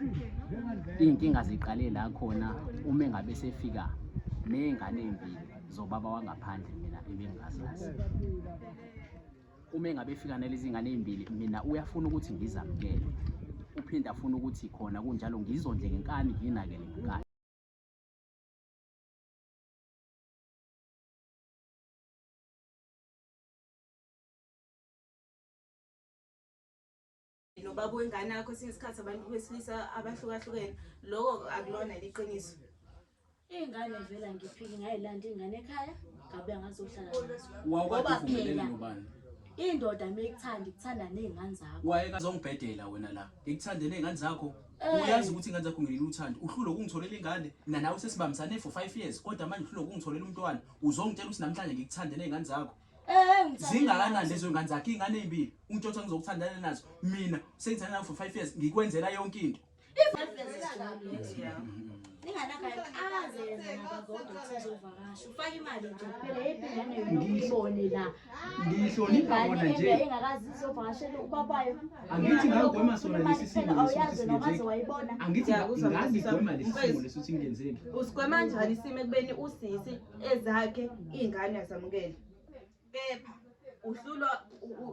Iy'nkinga ziqale la khona uma engabe sefika ney'ngane ey'mbili zobaba wangaphandle mina ebingazazi uma engabe efika nalezi ngane ey'mbili mina uyafuna ukuthi ngizamukele uphinde afune ukuthi khona kunjalo ngizondle ngenkani nginakele ngenkani nobaba wengane yakho esinye isikhathi abantu besilisa abahlukahlukene loko akulona liqiniso iy'ngane vela ngiphike ngayilanda iy'ngane ekhaya ngabe angazohlala ngoba phela indoda uma ikuthanda ikuthanda ney'ngane zakho wayekazongibhedela wena la ngikuthande ney'ngane zakho eh. uyazi ukuthi ingane zakho ngilela uthando uhlule ukungitholela ingane mina nawe sesibambisane for five years kodwa manje uhlule ukungitholela umntwana uzongitshela ukuthi namhlanje ngikuthande ney'ngane zakho zingakanani lezo ngane zakhe iy'ngane ey'mbili ungitshothi angizokuthandana nazo mina sengithanda nayo for five years ngikwenzela yonke into ngihlonipha bona nje angithi ngagwema sona lesi simo angithi ngagigwema lesi simo lesi ukuthi ngenzeni usigwema njani isimo ekubeni usisi ezakhe iy'ngane azamukele kepha uhlulwa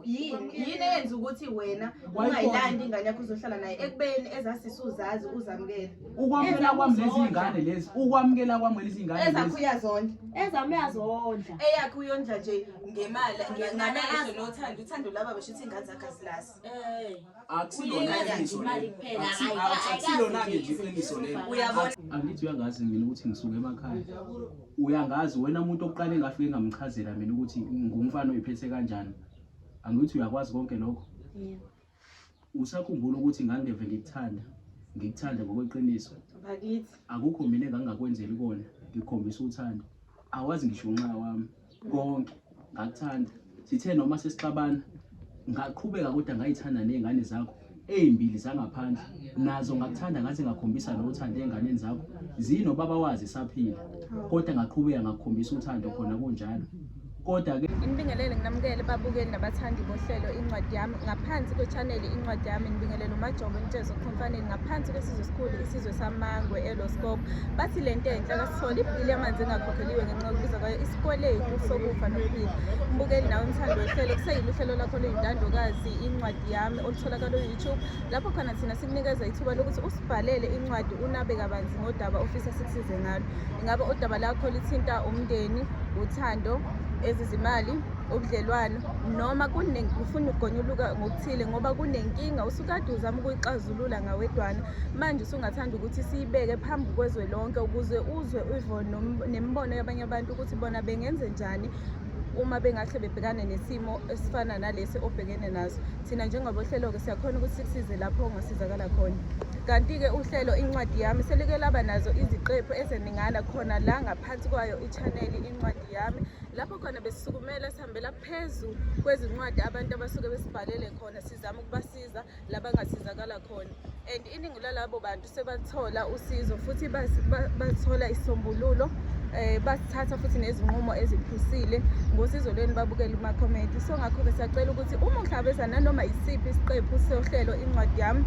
yini yini eyenza ukuthi wena ungayilandi ingane yakho uzohlala naye ekubeni ezasisi uzazi uzamukele ukwamukela kwami lezi ngane lezi ukwamukela kwami lezi ngane ezakho uyazondla ezami uyazondla eyakho uyondla nje ngemali ngamehlo nothando uthando laba besho ukuthi ingane zakhe asilasi eh. akusilona-ke nje iqiniso lelo angithi uyangazi mina ukuthi ngisuke emakhaya uyangazi wena umuntu okuqale ngafike ngamchazela mina ukuthi ngumfana oyiphethe kanjani angithi uyakwazi konke lokho usakhumbula ukuthi ngangeve ngikuthanda ngikuthanda ngokweqiniso akukho mina engangingakwenzeli kona ngikhombisa uthando awazi ngisho unxa wami konke ngakuthanda sithe noma sesixabana ngaqhubeka kodwa ngayithanda ney'ngane zakho ey'mbili zangaphandle nazo ngakuthanda ngathi ngakhombisa lo uthando ey'nganeni zakho zinobaba wazi saphila kodwa ngaqhubeka ngakukhombisa uthando khona kunjalo kodwa-ke inibingelele nginamukele babukeli nabathandi bohlelo incwadi yami ngaphansi kwechaneli incwadi yami ngibingelela umajobo ntshezo khomfaneni ngaphansi kwesizwe esikhulu isizwe samangwe eloscope bathi le nto enhle kasithole ibhili yamanzi engakhokheliwe ngenxa yokubiza kwayo isikweletu sokufa nokuphila mbukeli nawe umthando wehlelo kuseyile uhlelo lakho luyintandokazi incwadi yami olutholakala uyoutube lapho khona thina sikunikeza ithuba lokuthi usibhalele incwadi unabe kabanzi ngodaba ofisa sikusize ngalo ingabe udaba lakho lithinta umndeni uthando ezizimali ubudlelwano noma ufuna ukugonyuluka ngokuthile ngoba kunenkinga usukade uzama ukuyixazulula ngawedwana manje usungathanda ukuthi siyibeke phambi kwezwe lonke ukuze uzwe uvo nemibono yabanye abantu ukuthi bona bengenze njani uma bengahle bebhekane nesimo esifana nalesi obhekene naso thina njengabohlelo-ke siyakhona ukuthi sikusize lapho ongasizakala khona kanti-ke uhlelo incwadi yami selike laba nazo iziqephu ezeningana khona la ngaphansi kwayo ichaneli incwadi yami lapho khona besisukumela sihambela phezu kwezincwadi abantu abasuke besibhalele khona sizama ukubasiza labangasizakala khona and iningi lalabo bantu sebathola usizo futhi bathola isisombululo eh basithatha futhi nezinqumo eziphusile ngosizo lweni babukela uma comment so ngakho ke sacela ukuthi uma uhlabeza nanoma isiphi isiqephu sohlelo incwadi yami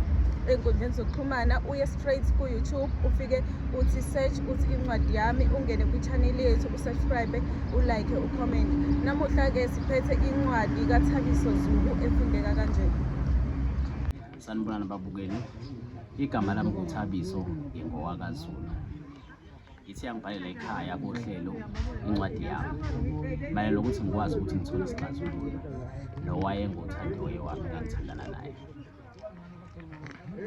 enkundleni zokuxhumana uye straight ku YouTube ufike uthi search uthi incwadi yami ungene kwi channel yethu subscribe ulike ucomment namuhla-ke siphethe incwadi kathabiso zulu efundeka kanje sanibonani babukeli igama lami nguthabiso ngingowakazulu ithi yangibhalela ekhaya kohlelo incwadi yami mayela lokuthi ngikwazi ukuthi ngithole isixazululo nowayengothandi oye wami ngangithandana naye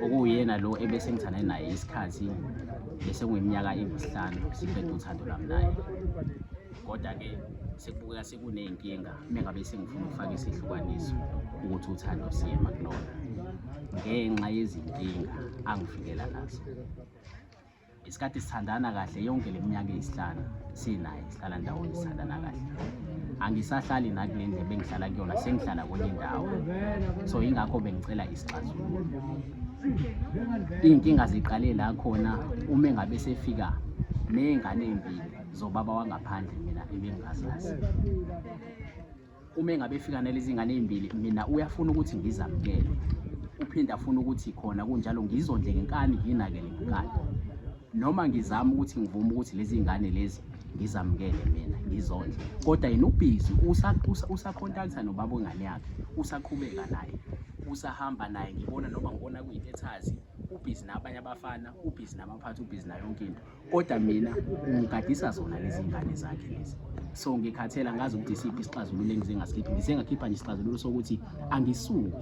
okuyena lo ebese ngithane naye isikhathi bese kuyiminyaka engusihlanu siqeda uthando lami naye kodwa-ke sekubukeka sekuney'nkinga mengabe sengifuna ukufaka isihlukaniso ukuthi uthando siye makulona ngenxa yezinkinga angifikela nazo isikhathi sithandana kahle yonke le minyaka eyisihlanu sinaye sihlala ndawonye sithandana kahle angisahlali nakule ndle bengihlala kuyona sengihlala kwenye indawo so yingakho bengicela isixazululo iy'nkinga ziqale la khona uma engabe sefika ney'ngane ey'mbili zobaba wangaphandle mina ebengingazazi uma engabe efika nalezi ngane ezimbili mina uyafuna ukuthi ngizamukele uphinde afuna ukuthi khona kunjalo ngizondle ngenkani nginakele ngenkani noma ngizama ukuthi ngivume ukuthi lezi ngane lezi ngizamukele mina ngizondle kodwa yena ubhizi usakhontaktha nobaba wengane yakhe usaqhubeka naye usahamba naye ngibona noma ngibona kuyintethazi ubhizi nabanye abafana ubhizi namaphathi ubhizi nayo yonke into kodwa mina ngigadisa zona lezi ngane zakhe lezi so ngikhathela ngazi ukuthi isiphi isixazululo engize ngasikhipha ngize ngakhipha nje isixazululo sokuthi angisuki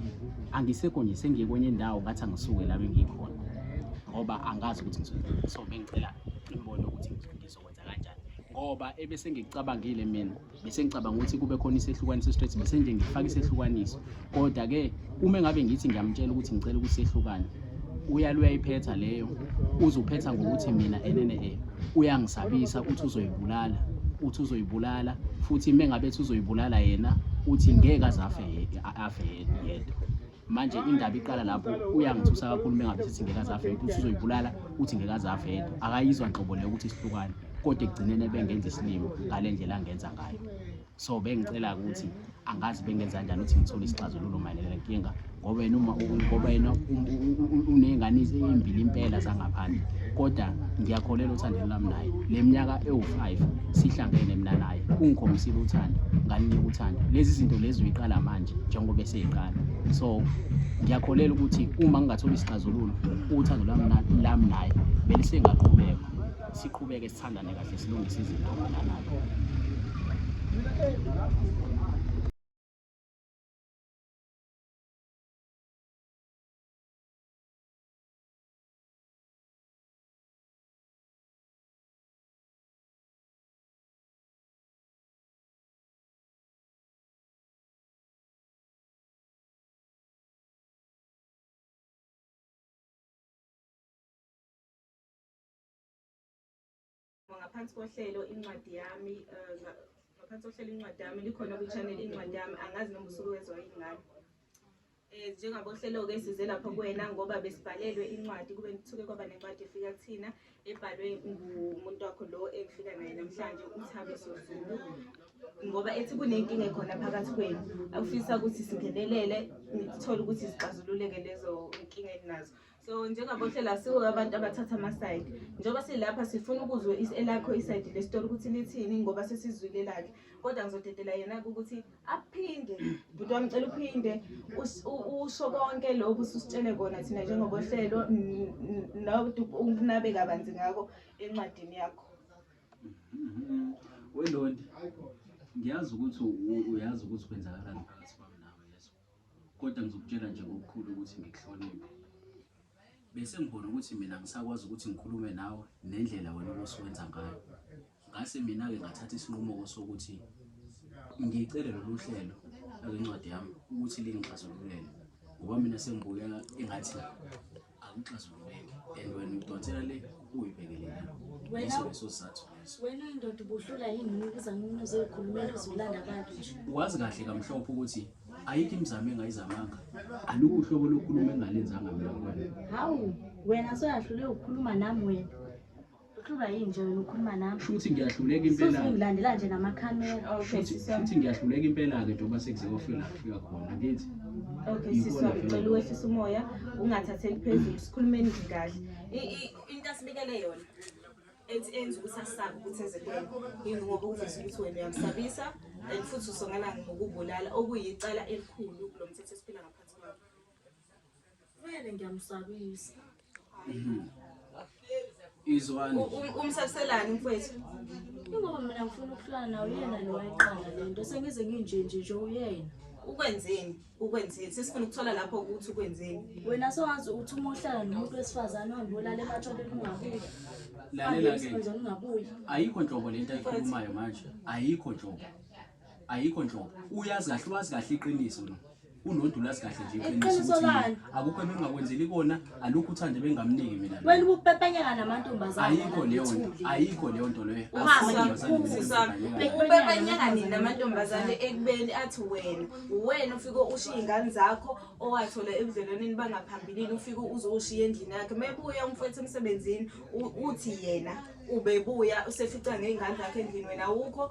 angisekho nje sengiye kwenye indawo ngathi angisuke la bengikhona ngoba angazi ukuthi ngizokwenza so bengicela imibono ukuthi ngizokwenza kanjani ngoba ebese ngicabangile mina bese ngicabanga ukuthi kube khona isehlukaniso straight bese nje ngifaka isehlukaniso kodwa ke uma ngabe ngithi ngiyamtshela ukuthi ngicela ukuthi sehlukane uyalo uyayiphetha leyo uzuphetha ngokuthi mina enene e uyangisabisa ukuthi uzoyibulala uthi uzoyibulala futhi mengabe uthi uzoyibulala yena uthi ngeke azafe afe yedwa manje indaba iqala lapho uyangithusa kakhulu uma ngabe sithi ngeke azafele ukuthi uzoyibulala uthi ngeke azafele akayizwa nhlobo leyo ukuthi sihlukane kodwa ekugcineni ebengenza isilimo ngale ndlela angenza ngayo so bengicela ukuthi angazi bengenza kanjani ukuthi ngithole isixazululo mayelana nenkinga ngoba yena uma ngoba yena uney'ngane ezimbili impela zangaphandle kodwa ngiyakholela othandeni lami naye le minyaka ewu-five sihlangene mina naye ungikhombisile uthando ngalinika uthando lezi zinto lezi uyiqala manje njengoba eqala so ngiyakholela ukuthi uma ngingathola isixazululo uthando lami lami naye belisengaqhubeka siqhubeke sithandane kahle silungise izinto nganalo ngaphansi kohlelo incwadi yami eh, ngaphansi kohlelo incwadi yami likhona kwi-channel incwadi yami angazi noma usuke wezwa ingane eh, um njengabohlelo-ke size lapho kuwena ngoba besibhalelwe incwadi kube kuthuke kwaba nencwadi efika kuthina ebhalwe ngumuntu wakho lo engifika naye namhlanje umthabiso zulu ngoba ethi kunenkinga ekhona phakathi kwenu akufisa ukuthi singenelele nithole ukuthi zixazululeke lezo nkinga eninazo so njengabohlela siwo abantu abathatha amasayidi njengoba silapha sifuna ukuzwe elakho isayidi lesitori ukuthi lithini ngoba sesizwile lakhe kodwa ngizodedela yena-ke ukuthi aphinde bhuti wami cela uphinde usho konke lokhu susitshele kona thina njengobohlelo unabe kabanzi ngako encwadini yakho mm-hmm. welondi ngiyazi ukuthi uyazi ukuthi kwenzakalani phakathi kwami nawe yeso Kodwa ngizokutshela nje ngokukhulu ukuthi ngikuhloniphe. Bese ngibona ukuthi mina ngisakwazi ukuthi ngikhulume nawe nendlela wena obusuwenza ngayo. Ngase mina-ke ngathatha isinqumo-ko sokuthi ngicele lolu hlelo lwencwadi yami ukuthi lingixazululele ngoba mina sengibukeka engathi akuxazululeki and wena udonsela le uyibhekelele leso leso sizathu leso wena indoda ubuhlula yini ukuza ngomuntu uzoyikhulumela uzolanda abantu nje wazi kahle kamhlophe ukuthi ayikho imizamo engayizamanga aluku uhlobo lokukhuluma engalenzanga mina kwena hawu wena soyahlule ukukhuluma nami wena Uhlulwa yini nje wena ukhuluma nami? Shuthi ngiyahluleka impela. Shuthi ngilandela nje nama camera. Okay, shuthi ngiyahluleka impela ke njengoba sekuze kofika la kufika khona. Ngithi Okay, siswa ngicela uwehlisa umoya ungathatheli phezulu sikhulumeni nje kahle. Into asibikele yona ethi enza ukuthi asabe ukuthi enze kuwena yini ngoba ukuveza ukuthi wena uyamsabisa and futhi usongelani ngokubulala okuyicala elikhulu kulo mthetho esiphila ngaphansi kwawo Vele ngiyamusabisa. Mhm. Izwani. Umsaselani mfowethu? Ingoba mina ngifuna ukuhlala nawe yena lo wayiqala lento sengize nginje nje nje uyena. Ukwenzeni? Ukwenzeni? Sesifuna ukuthola lapho ukuthi ukwenzeni. Wena sowazi ukuthi uma uhlala nomuntu wesifazane uhambe ulale ematshwaleni ungabuyi. Lalela ke. Ungabuyi. Ayikho nhlobo lento ayikhulumayo manje. Ayikho nhlobo. Ayikho nhlobo. Uyazi kahle wazi kahle iqiniso lo. Unontu lazi kahle nje iqiniso ukuthi akukho engingakwenzeli kona alukho uthande bengamniki mina. Wena ubupepenyeka namantombazana. Ayikho leyo nto. Ayikho leyo nto leyo. Ubupepenyeka nini namantombazana ekubeni athi wena. Uwena ufike ushiye ingane zakho owathola ebudlelwaneni bangaphambilini ufike uzoshiya endlini yakhe. Mebuya umfowethu emsebenzini uthi yena ubebuya usefica ngey'ngane zakhe endlini wena awukho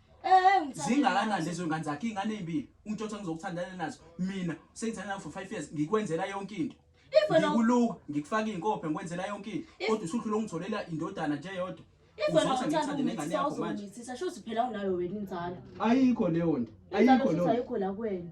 Eh, zingakanani lezo ngane zakhe ingane ezimbili untshotha ngizokuthandana nazo mina sengithandana for 5 years ngikwenzela yonke into ngikuluka ngikufaka izinkophe ngikwenzela yonke into kodwa usudlula ungitholela indodana nje yodwa ayikho leyo nto ayikho leyo nto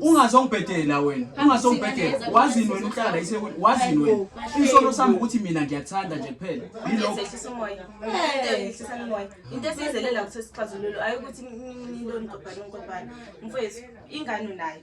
ungazongibhedela wena ungazongibhedela wazini wena uhlala wazini wena isono sami ukuthi mina ngiyakuthanda nje kuphela into esiyizelela ukuthi sixazululo ayi ukuthi nilonigobhane ngigobhane mfowethu ingane unayo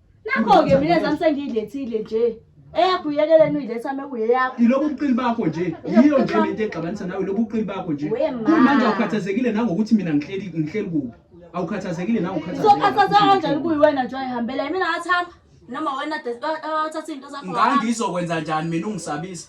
Nakho-ke mina zami sengiyilethile nje. Eyakho uyekeleni uyiletha uma kuyeyakho. Yilobu ubuqili bakho nje. Yiyo nje le nto exabanisa nawe lobu ubuqili bakho nje. Kumanje awukhathazekile nangokuthi mina ngihleli ngihleli kuphi. Awukhathazekile nangokhathazekile. Uzokhathazeka kanjani kuyiwena nje ayihambela yimina ngathamba. Noma wena athatha izinto zakho. Ngangizokwenza njani mina ungisabisa?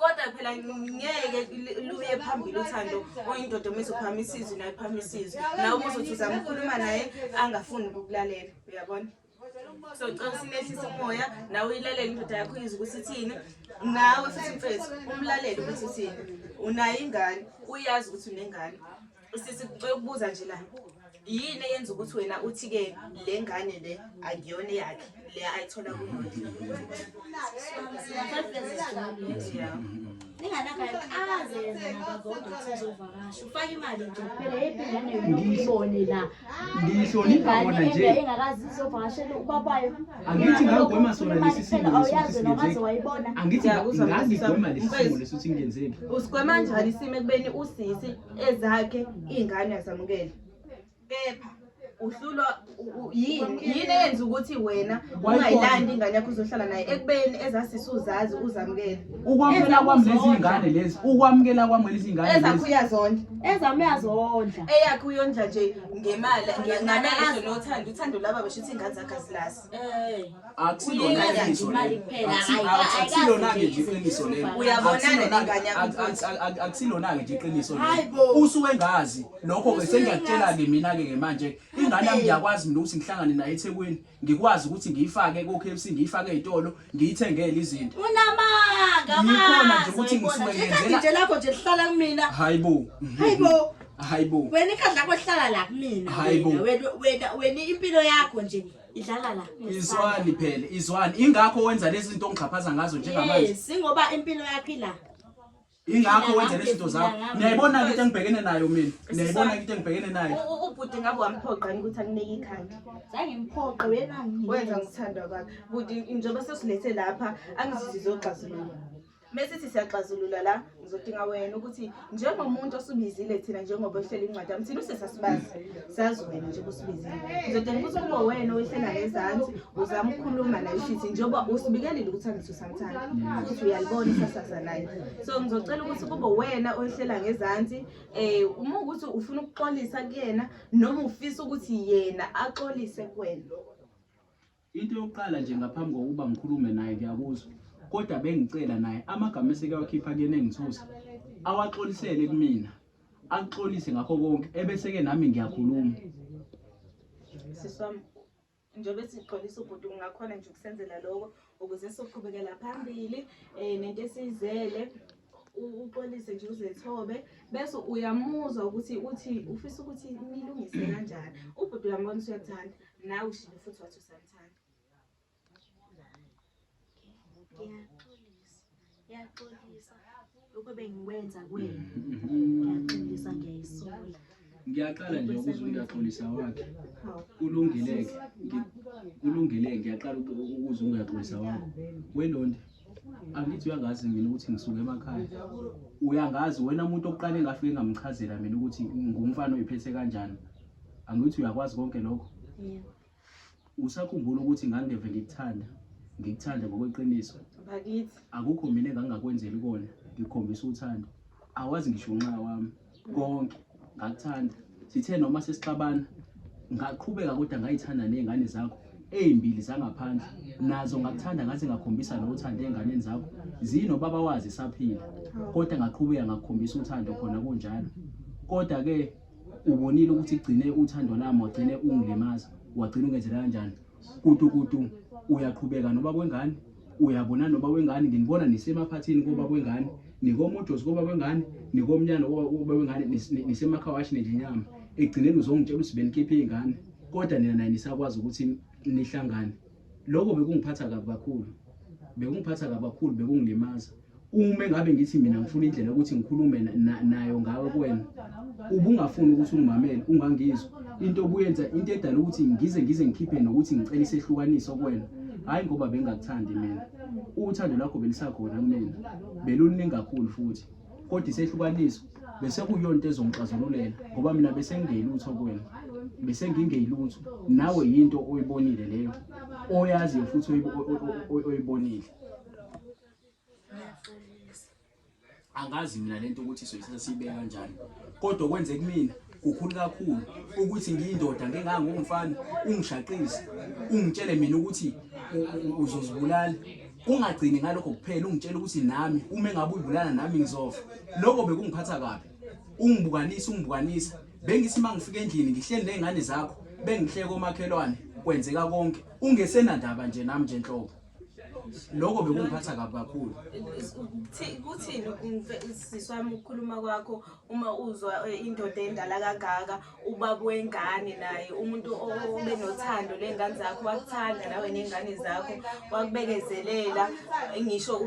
kodwa phela ngeke luye phambili uthando oyindoda uma izophamisa isizwe naye phama isizwe nawe uma uzothi uzama ukhuluma naye angafuni ukukulalela uyabona so cela sinehlise umoya nawe uyilalele indoda yakho uyizwe ukuthi ithini nawe futhi mfethu umlalele ukuthi uthini unayo ingane uyazi ukuthi unengane Sisi ngicela ukubuza nje la. Yini eyenza ukuthi wena uthi ke le ngane le akuyona yakhe le ayithola kumuntu. ngiyihlonipha kona nje angithi ngagwema sona lesi simo angithi ngagigwema lesi simo lesi ukuthi ngenzeni usigwema njani isimo ekubeni usisi ezakhe iy'ngane uyazamukela kepha uhlulwa yini yini eyenza ukuthi wena ungayilandi ingane yakho uzohlala naye ekubeni ezasisi uzazi uzamukele ukwamukela kwami lezi ngane lezi ukwamukela kwami lezi ngane ezakho uyazondla ezami uyazondla eyakho uyondla nje ngemali ngamehlo nothando uthando laba besho ukuthi ingane zakhe asilasi akusilona-ke nje iqiniso leloakusilona-ke nje iqiniso usuke engazi lokho-ke sengiyakutshela-ke mina-ke ke manje ingane yami ngiyakwazi mina ukuthi ngihlangane naye ethekwini ngikwazi ukuthi ngiyifake ko-k f c ngiyifake ey'tolo ngiyithengele izinto unamanga yikhona nje ukuthi ngisuke ngenzela lakho nje lihlala kumina hayibo hayibo hayibo wena ikhadla lakho lihlala la kumina hayibo wena wena impilo yakho nje idlala la izwani phela izwani ingakho wenza lezi zinto ongixhaphaza ngazo njengamanje yes ingoba impilo yakho ila ingakho wenza lezinto zakho niyayibona ke into engibhekene nayo mina niyayibona ke into engibhekene nayo ubhuti ngabe wamphoqani ukuthi akunike ikhanda zange mphoqe wena wenza ngithanda kwakhe buti njengoba sesilethe lapha angizizizwe ogxazulula mesithi siyaxazulula la ngizodinga wena ukuthi njengomuntu osubizile thina njengoba ohlele incwadi yami thina usesasibazi sazi wena njengoba usubizile ngizodinga ukuthi kube wena owehlena ngezansi uzama ukukhuluma nayo shithi njengoba usibikelile ukuthi angisusa futhi uyalibona isasasa layo so ngizocela ukuthi kube wena oyihlela ngezansi um uma ukuthi ufuna ukuxolisa kuyena noma ufisa ukuthi yena axolise kwena into yokuqala nje ngaphambi kokuba ngikhulume naye kuyakuzwa kodwa bengicela naye amagama esekawakhipha kuyena engithusa awaxolisele kumina akuxolise ngakho konke ebese-ke nami ngiyakhuluma siswami njengoba sixolisa ubhuti kungakhona nje ukusenzela loko ukuze soqhubekela phambili um nento esiyizele uxolise nje uzethobe bese uyamuzwa ukuthi uthi ufisa ukuthi nilungise kanjani ubhuti uyambona usuyakuthanda nawe ushile futhi wathi usamthanda ngiyaxolisa lokho bengikwenza kwena ngiyaxolisa ngiyayisola ngiyaqala nje ukuzwa ukuthi uyaxolisa wakhe kulungileke kulungileke ngiyaqala ukuzwa ungayaxolisa wakho welondi angithi uyangazi mina ukuthi ngisuke emakhaya uyangazi wena muntu okuqale ngafike ngamchazela mina ukuthi ngumfana oyiphethe kanjani angithi uyakwazi konke lokho Usakhumbula ukuthi ngangeve ngikuthanda, ngikuthanda ngokweqiniso. Bakithi. Akukho mina engangingakwenzeli kona, ngikhombisa uthando. Awazi ngisho unxa wami, konke ngakuthanda. Sithe noma sesixabana, ngaqhubeka kodwa ngayithanda ney'ngane zakho ey'mbili zangaphandle nazo ngakuthanda ngaze ngakhombisa nothando ey'nganeni zakho zinobaba wazi saphila kodwa ngaqhubeka ngakukhombisa uthando khona kunjalo kodwa-ke ubonile ukuthi igcine uthando lami wagcine ungilimaza wagcina ungenzela kanjani kutukutu uyaqhubeka noba kwengane uyabona noba wengane nginibona nisemaphathini koba kwengane nikomojosi koba kwengane nikomnyana koba wengane nisemakhawashi nelinyama egcineni uzongitshela ukuthi benikhiphe iy'ngane kodwa nina naye nisakwazi ukuthi nihlangane lokho bekungiphatha kabi kakhulu bekungiphatha kabi kakhulu bekungilimaza uma engabe ngithi mina ngifuna indlela ukuthi ngikhulume nayo ngawe kuwena ubungafuni ukuthi ungimamele ungangizwa into obuyenza into edala ukuthi ngize ngize ngikhiphe nokuthi ngicela isehlukaniso kuwena hhayi ngoba bengingakuthandi mina uthando lakho belisakhona kumina beluluningi kakhulu futhi kodwa isehlukaniso bese kuyona into ezongixazululela ngoba mina bese ngingeyilutho kuwena bese ngingeyilutho nawe yinto oyibonile leyo oyaziyo futhi oyibonile ngiyaxolisa angazi mina lento ukuthi soyithatha siyibeka kanjani kodwa kwenze kumina kukhulu kakhulu ukuthi ngiyindoda ngengangomfana ungishaqise ungitshele mina ukuthi uzozibulala ungagcini ngalokho kuphela ungitshela ukuthi nami uma engabe uyibulala nami ngizofa lokho bekungiphatha kabi ungibukanisa ungibukanisa bengithi uma ngifika endlini ngihleli ney'ngane zakho bengihleke omakhelwane kwenzeka konke ungesenandaba nje nami nje nhlobo lokho bekungiphatha kabi kakhulu kuthini usisi wami ukukhuluma kwakho uma uzwa eh, indoda endala kangaka ubaba wengane naye umuntu obe nothando ley'ngane zakho wakuthanda nawe ney'ngane zakho wakubekezelela ngisho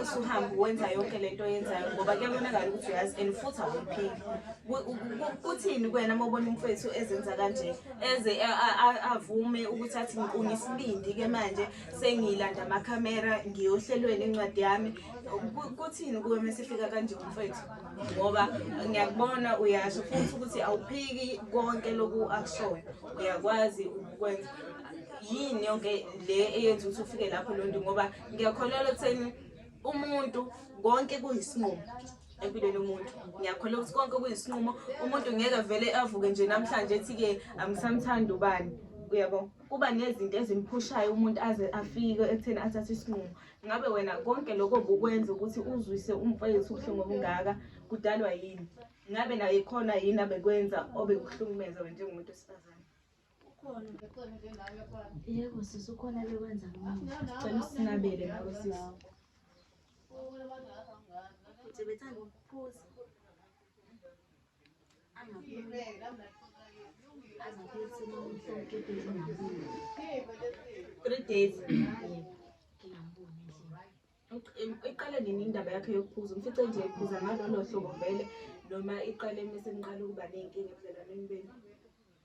usuhambe wenza yonke le nto oyenzayo ngoba kuyabonakala ukuthi uyazi and futhi awuphili kuthini kwena uma ubona umfethu ezenza kanje eze avume ukuthi athi ngikungisibindi ke manje sengilanda amakhamera ngiyohlelweni incwadi yami kuthini kuwe mesifika kanje mfethu ngoba ngiyakubona uyasho futhi ukuthi awuphiki konke loku akushoyo uyakwazi ukwenza yini yonke le eyenza ukuthi ufike lapho lonto ngoba ngiyakholelwa ekutheni umuntu konke kuyisinqumo empilweni umuntu ngiyakhola ukuthi konke kuyisinqumo umuntu ngeke avele avuke nje namhlanje ethi-ke angisamthandi ubani uyabo kuba nezinto ezimphushayo umuntu aze afike ekutheni athathe isinqumo ngabe wena konke lokho bukwenza ukuthi uzwise umfowethu ubuhlungu obungaka kudalwa yini ngabe naye khona yini abekwenza obekuhlukumeza wena njengomuntu wesifazane Ukhona nje khona nje nawe yakwami. Yebo sisi ukhona bekwenza ngami. Cela usinabele nawe sisi. Nje bethanda ukuphuza. Angaphuza. Angaphuza umuntu oqedwe ngizini. Three days. iqale nini indaba yakhe yokuphuza umfice nje ephuza ngalolo hlobo vele noma iqale uma seniqala ukuba ney'nkinga ebudlelwaneni benu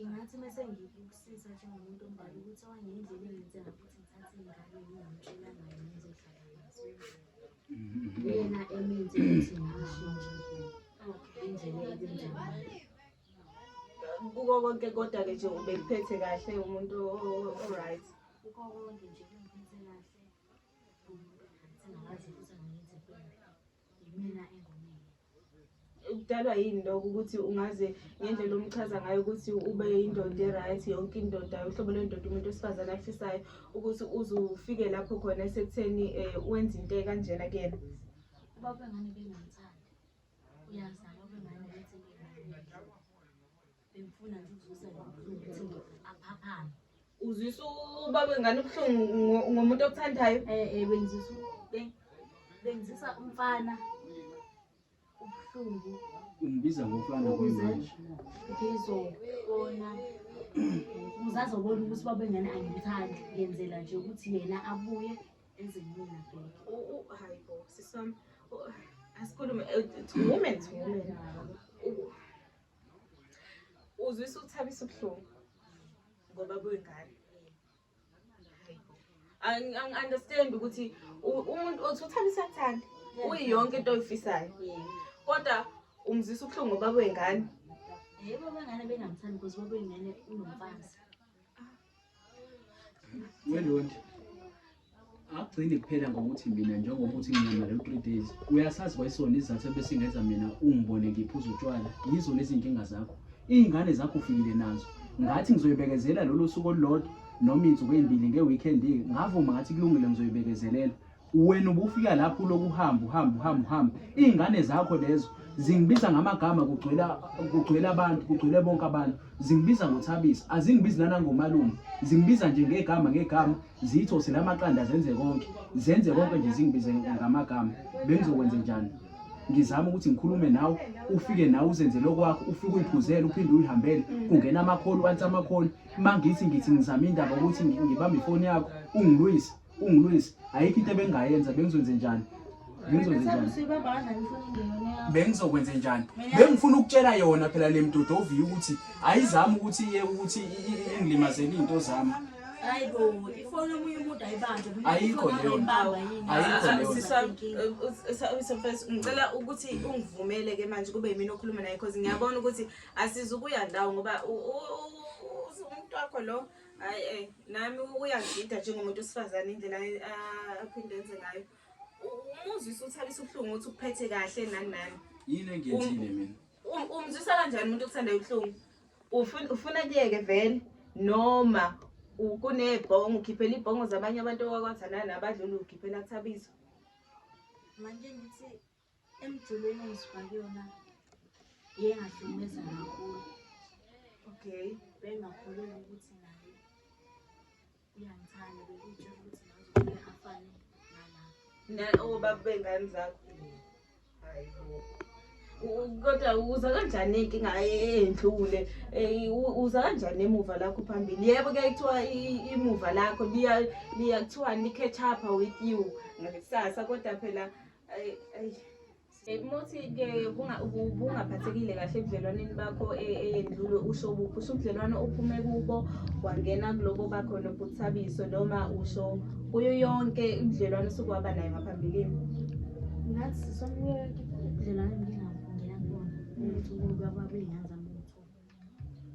Ngingathi uma sengikusiza njengomuntu omdala ukuthi okanye indlela engenze ngakho ukuthi ngithathe ingane ngingamtshela ngayo ngizohlala nazo. Uyena emenze ukuthi ngishintshe indlela ebenza ngayo. Kuko konke kodwa-ke nje ubekuphethe kahle umuntu o- o- o-right. Kuko konke nje kungiphethe kahle. Umuntu akangithandazi futhi angenzi kubi. yimina engonile kudalwa yini lokho ukuthi ungaze ngendlela omchaza ngayo ukuthi ube indoda e-right yonke indoda uhlobo lwendoda umuntu wesifazane afisayo ukuthi uze ufike lapho khona esekutheni um wenze into ekanjena kuyena uba bengane bengamthandi uyazama ubengane ukuthi Bengifuna nje ukuzuza lo mfundi ukuthi aphaphame. Uzwisa ubaba wengane ubuhlungu ngo- ngomuntu okuthandayo. Eh eh bengizisa beng- bengizisa umfana ubuhlungu Ungibiza ngofana ukuze kuyimanje. ngizobona ukuze azobona ukuthi ubaba wengane angimthandi ngenzela nje ukuthi yena abuye enze mina bheke. U- u- hayi bo sisam asikhulume eh, to women to women U- uzwisa ukuthabisa ubuhlungu ngoba kuyingane angi-understand ukuthi umuntu othi uthabisa kuthanda uyi yonke into oyifisayo kodwa umzisa ubuhlungu ngoba kuyingane yebo bangane bengamthandi because babeyingane unomfazi Welonje akugcini kuphela ngokuthi mina njengoba uthi nginyama leyo three days uyasazi kwayisona izathu ebesingenza mina ungibone ngiphuza utshwala yizo lezi nkinga zakho iy'ngane zakho ufikile nazo ngathi ngizoyibekezela lolo suku olulodwa noma insuku ey'mbili nge-weekend-ke ngavuma ngathi kulungile ngizoyibekezelela wena ubufika lapho uloku uhamba uhamba uhamba uhamba iy'ngane zakho lezo zingibiza ngamagama kugcwela kugcwela abantu kugcwele bonke abantu zingibiza ngothabisa azingibizi nanangomalume zingibiza nje ngegama ngegama zitho sela amaqanda zenze konke zenze konke nje zingibize ngamagama bengizokwenze njani ngizama ukuthi ngikhulume nawe ufike nawe uzenzele okwakho ufike uyiphuzele uphinde uyihambele kungena amakholi wansi amakholi mangithi ngithi ngizama indaba ukuthi ngibambe ifoni yakho ungilwise ungilwesi ayikho into ebengingayenza bengizwenze njani bengizokwenze njani bengifuna ukutshela yona phela le mdoda oviye ukuthi ayizami ukuthi iye ukuthi ingilimazele iy'nto zami ayikho leyongicela eh, ukuthi ungivumele ke manje kube yimina okhuluma naye because ngiyabona ukuthi asizukuya ndawo ngoba umntu wakho lo Hayi eh nami uyangida njengomuntu osifazane indlela aphinde enze ngayo. Umuzwisa uthabisa ubuhlungu ukuthi ukuphethe kahle nani nani. Yini engiyenzile um, mina? Um, umzwisa kanjani umuntu okuthanda ubuhlungu? Ufuna ufuna kuyeke vele noma kunebhongo ukhiphela ibhongo zabanye abantu owakwathana nabadlula ukhiphela kuthabisa. Manje ngithi Emculweni engisuka kuyona iye ngahlukumeza kakhulu. Okay. Bengingakholelwa ukuthi naye uyangithanda bekutshela ukuthi ngazofike afane nalapha. Na obaba bey'ngane zakho. Hayi bo. U- Kodwa uza kanjani inkinga endlule? Eh, u- Uza kanjani emuva lakho phambili? Yebo ke kuthiwa i- imuva lakho liya liya kuthiwa li catch up with you ngakusasa kodwa phela Muthi-ke ubungaphathekile kahle ebudlelwaneni bakho e, eyendlule usho buphi usho ubudlelwano ophume kubo wangena kulobo bakho nobuthabiso noma usho kuyo yonke ubudlelwano osuke waba nayo ngaphambilini ngathi sonke ubudlelwano ngingangena kubona ukuthi umuntu wakwabile ngazama ukuthola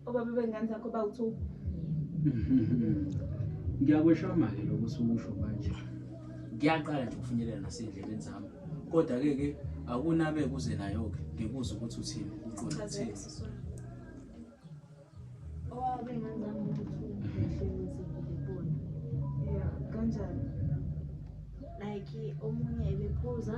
Obaba bengane zakho bawu-two. Ngiyakweshama-ke lokho osukusho manje. Ngiyaqala nje ukufinyelela nasey'ndlebeni zami. Kodwa-ke ke akunabe kuze nayo-ke ngikuze ukuthi uthini uqonda kuthini. Obaba bengane zami bawu-two. Yeah, kanjani? Like omunye ebephuza.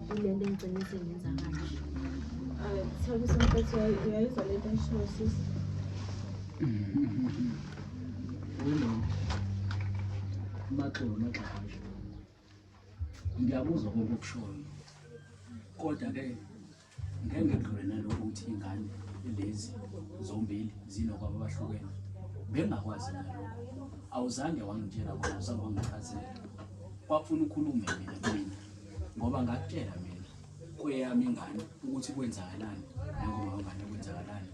Ilento engigcine sengenza kanje. Ay, sorry somfethu uyayizwa lento engishiwo sisi. Maxolo maxolo. Ngiyakuzwa konke okushoyo. Kodwa ke ngeke ngidlule nalokho ukuthi ingane lezi zombili zinokwabo abahlukene. Bengakwazi nalokho. Awuzange wangitshela kona, awuzange wangichazela. Kwafuna ukhulume mina. ngoba ngakutshela mina kweyami ingane ukuthi kwenzakalani nangoma wengane kwenzakalani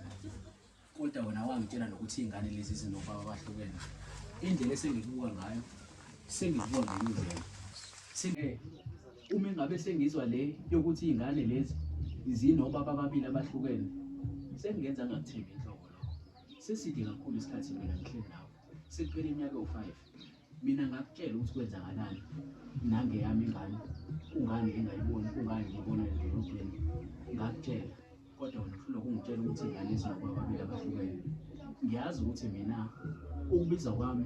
kodwa wena wangitshela nokuthi iy'ngane lezi zinobaba abahlukene indlela esengibuka ngayo sengibuka ngenye indlela Sengeke. Uma engabe sengizwa le yokuthi iy'ngane lezi zinobaba ababili abahlukene, sengingenza angakuthembi inhlobo lokho. Seside kakhulu isikhathi mina ngihleli nawe, sekuphele iminyaka ewu-five. Mina ngakutshela ukuthi kwenzakalani nangeyami ingane kungani ngingayiboni kungani ngibona edolobheni ngakutshela kodwa wena uhlulwa kungitshela ukuthi ingane izakwa babili abahlukene ngiyazi ukuthi mina ukubiza kwami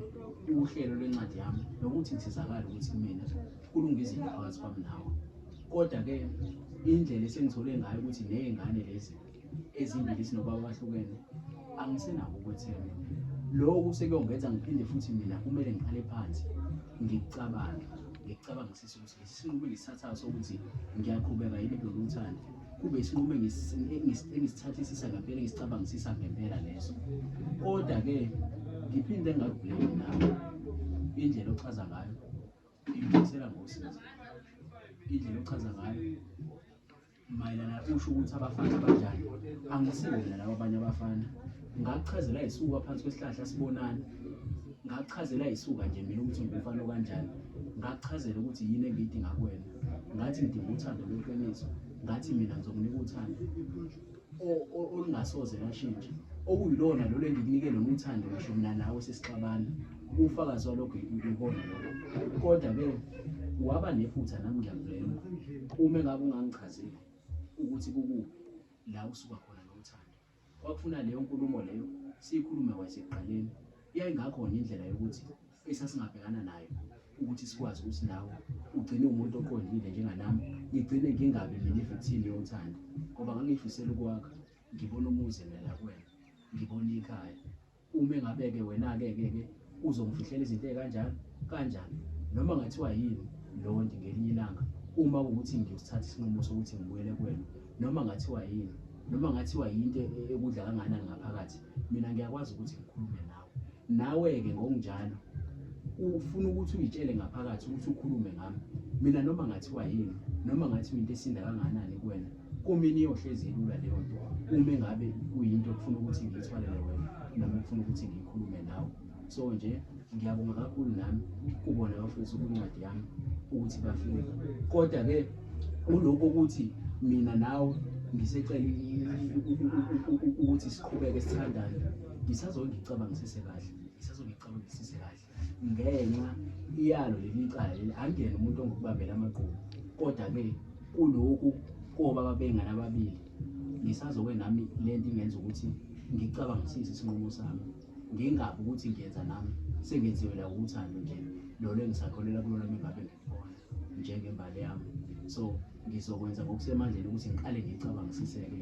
uhlelo lwencwadi yami nokuthi ngisizakale ukuthi kumina kulunga izinto phakathi kwami nawe kodwa-ke indlela esengithole ngayo ukuthi ney'ngane lezi ezimbili sinobaba abahlukene angisenako ukwethemba lokhu sekuyongenza ngiphinde futhi mina kumele ngiqale phansi ngikucabange ngicabanga sisi ukuthi lesi sinqumo engisithathayo sokuthi ngiyaqhubeka yini kulolu uthando kube isinqumo engisithathisisa ngempela engisicabangisisa ngempela leso kodwa-ke ngiphinde ngaguleki nawe indlela ochaza ngayo ngibuyisela ngosizo indlela ochaza ngayo mayelana usho ukuthi abafana abanjani angisibo mina laba abanye abafana ngakuchazela yisuka phansi kwesihlahla sibonani ngakuchazela yisuka nje mina ukuthi ngumfana okanjani ngakuchazela ukuthi yini engiyidinga kuwena ngathi ngidinga uthando lweqiniso ngathi mina ngizokunika uthando olungasoze lashintsha okuyilona lolo engikunike lona uthando ngisho mina nawe sesixabana Ufakazi walokho ngibona lokho. Kodwa ke waba nephutha nami ngiyakuvela. Uma ngabe ungangichazeli ukuthi kukuphi la usuka khona nothando. Kwakufuna leyo nkulumo leyo siyikhulume kwasekuqaleni. Yayingakhona indlela yokuthi esasingabhekana nayo ukuthi sikwazi ukuthi nawe ugcine umuntu oqondile njenganami ngigcine ngingabi mina ivithini yothando ngoba ngangifisela ukwakha ngibona umuzi mina kuwena ngibona ikhaya Uma engabe-ke wena-ke ke ke uzongifihlela izinto ezikanjani kanjani noma ngathiwa yini lonti ngelinye ilanga uma ukuthi ngiyosithatha isinqumo sokuthi ngibuyele kuwena noma ngathiwa yini noma ngathiwa yinto e-, e-, ekudla kanganani ngaphakathi mina ngiyakwazi ukuthi ngikhulume nawe nawe-ke ngokunjalo ufuna ukuthi uyitshele ngaphakathi ukuthi ukhulume ngami mina noma ngathiwa yini noma ngathiwa into esinda kanganani kuwena Kumina iyohlezi ilula leyo nto uma engabe kuyinto okufuna ukuthi ngiyithwalele wena noma okufuna ukuthi ngiyikhulume nawe so nje ngiyabonga kakhulu nami kubona bafundisa ukuncwadi yami ukuthi bafike kodwa-ke kulokhu ukuthi mina nawe ngisecela ukuthi siqhubeke sithandane ngisazongicabanga sisekahle ngisazongicabanga sisekahle ngenxa iyalo leli cala leli angene umuntu ongokubambela amagqubu kodwa-ke kulokhu koba babengane ababili ngisazoke nami le nto ingenza ukuthi ngicabangisise isinqumo sami ngingabi ukuthi ngiyenza nami sengenziwe la uthando nje lolo engisakholelwa kulona mengabe ngikhona njengembali yami so ngizokwenza ngokusemandleni ukuthi ngiqale ngicabangisiseke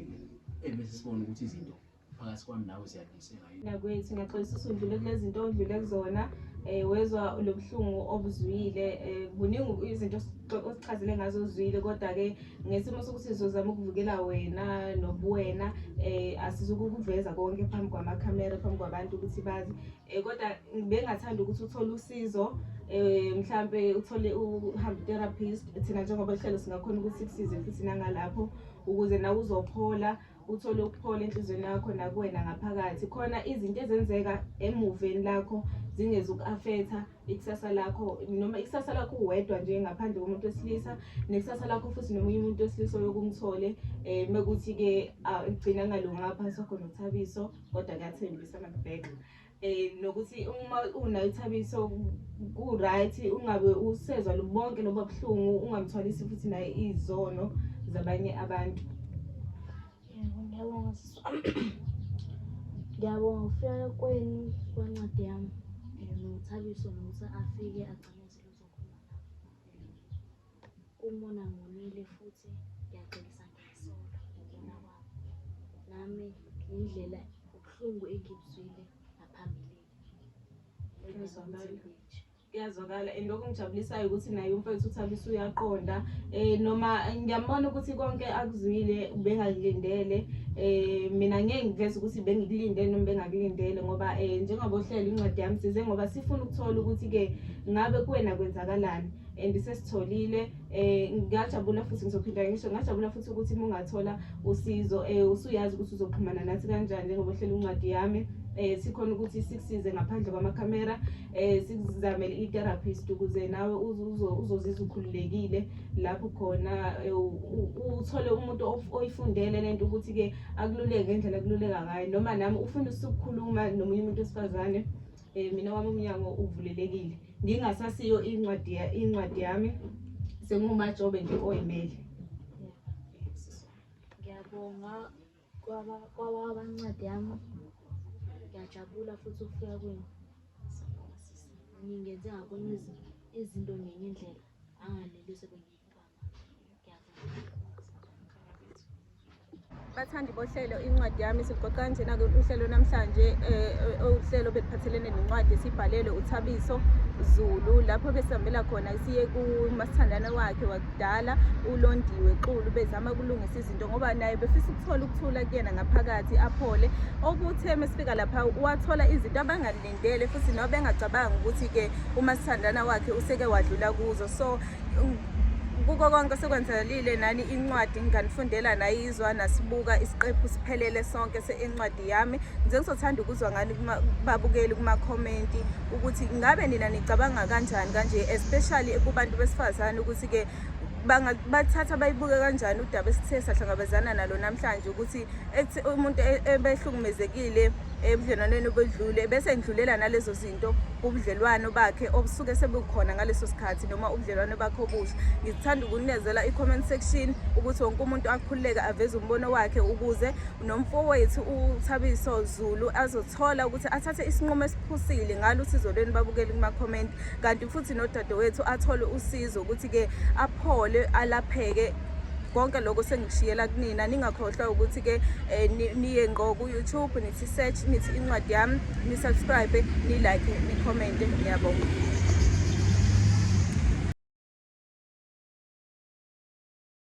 ebese sibona ukuthi izinto phakathi kwami nawe ziyadliseka yini nakwethu ngiyaxolisa usundlule kulezinto ondlule kuzona eh wezwa lobuhlungu obuzwile eh kuningi izinto osichazele ngazo uzwile kodwa ke ngesimo sokuthi sizozama ukuvukela wena nobuwena eh asizukukuveza konke phambi kwama camera phambi kwabantu ukuthi bazi eh kodwa bengathanda ukuthi uthole usizo eh mhlambe uthole uhambe therapist thina njengoba lihlelo singakhona ukuthi sikusize futhi nangalapho ukuze nawe uzophola Uthole ukuphola enhlizweni yakho nakuwena ngaphakathi. Khona izinto ezenzeka emuveni lakho zingezuku-afetha ikusasa lakho noma ikusasa lakho uwedwa nje ngaphandle komuntu wesilisa nekusasa lakho futhi nomunye umuntu wesilisa oyokumthole um mekuthi-ke gcina ngalungaphansi wakho nothabiso kodwa kuyathembisa nakubheka um nokuthi uma unayo ithabiso ku-right ungabe usezwa bonke loba buhlungu ungamthwalisi futhi naye izono zabanye abantu ngiyabonga siswa ngiyabonga ukufika kwenu kwencwadi yami um nothabiso nokuthi afike agcine Umona ngonile futhi ngiyaxolisa ngesono ngibona kwami. Nami ngendlela ubuhlungu engibuzwile ngaphambilini. Ngizwakala. kuyazwakala and okungijabulisayo ukuthi naye umfethu uthabisa uyaqonda um noma ngiyambona ukuthi konke akuzwile bengakulindele um mina ngeke ngiveze ukuthi bengikulinde noma bengakulindele ngoba um njengoba uhlela incwadi yami size ngoba sifuna ukuthola ukuthi-ke ngabe kuwena kwenzakalani and sesitholile eh ngiyajabula futhi ngizophinda ngisho ngiyajabula futhi ukuthi uma ungathola usizo eh usuyazi ukuthi uzoxhumana nathi kanjani njengoba uhlela incwadi yami eh sikhona ukuthi sikusize ngaphandle kwamakhamera eh sikuzamele i-therapist ukuze nawe uzozizwa ukhululekile lapho khona eh, uthole umuntu oyifundele lento ukuthi-ke akululeke ngendlela akululeka ngayo noma nami ufuna usukukhuluma nomunye umuntu wesifazane um mina wami umnyango uvulelekile ngingasasiyo incwadi incwadi yami sengumajobe nje oyimele ngiyabonga kwaba kwaba abancwadi yami ngiyajabula futhi ukufika kwenu ngingenze ngakwenye izinto ngenye indlela anganeli sebengiyo bathandi bohlelo incwadi yami sigoqa kanjena ke uhlelo namhlanje eh, eh, uhlelo beliphathelene nencwadi esibhalelwe uthabiso zulu lapho besihambela khona siye kumasithandana wakhe wakudala ulondiwe xulu bezama ukulungisa izinto ngoba naye befisa ukuthola ukuthula kuyena ngaphakathi aphole okuthe mesifika lapha wathola izinto abangalindele futhi nabo bengacabangi ukuthi-ke umasithandana wakhe useke wadlula kuzo so kuko konke sekwenzakalile nani incwadi nginganifundela nayizwa nasibuka isiqephu siphelele sonke sencwadi yami ngize ngizothanda ukuzwa ngani babukeli kumakhomenti ukuthi ngabe nina nicabanga kanjani kanje especially kubantu besifazane ukuthi-ke bathatha bayibuke kanjani udaba esithe sahlangabezana nalo namhlanje ukuthi umuntu e-, ebehlukumezekile ebudlelwaneni obedlule bese ngidlulela nalezo izinto ubudlelwano bakhe obusuke sebukhona ngaleso sikhathi noma ubudlelwano bakhe obusha ngithanda ukunezela i-comment section ukuthi wonke umuntu akhululeke aveze umbono wakhe ukuze nomfowethu uthabiso zulu azothola ukuthi athathe isinqumo esiphusile ngalo usizo lweni babukele kuma-comment kanti futhi nodadewethu athole usizo ukuthi-ke aphole alapheke konke lokho sengishiyela kunina ningakhohlwa ukuthi ke eh, niye ngqo ku YouTube nithi search nithi incwadi yami ni subscribe ni like ni comment ngiyabonga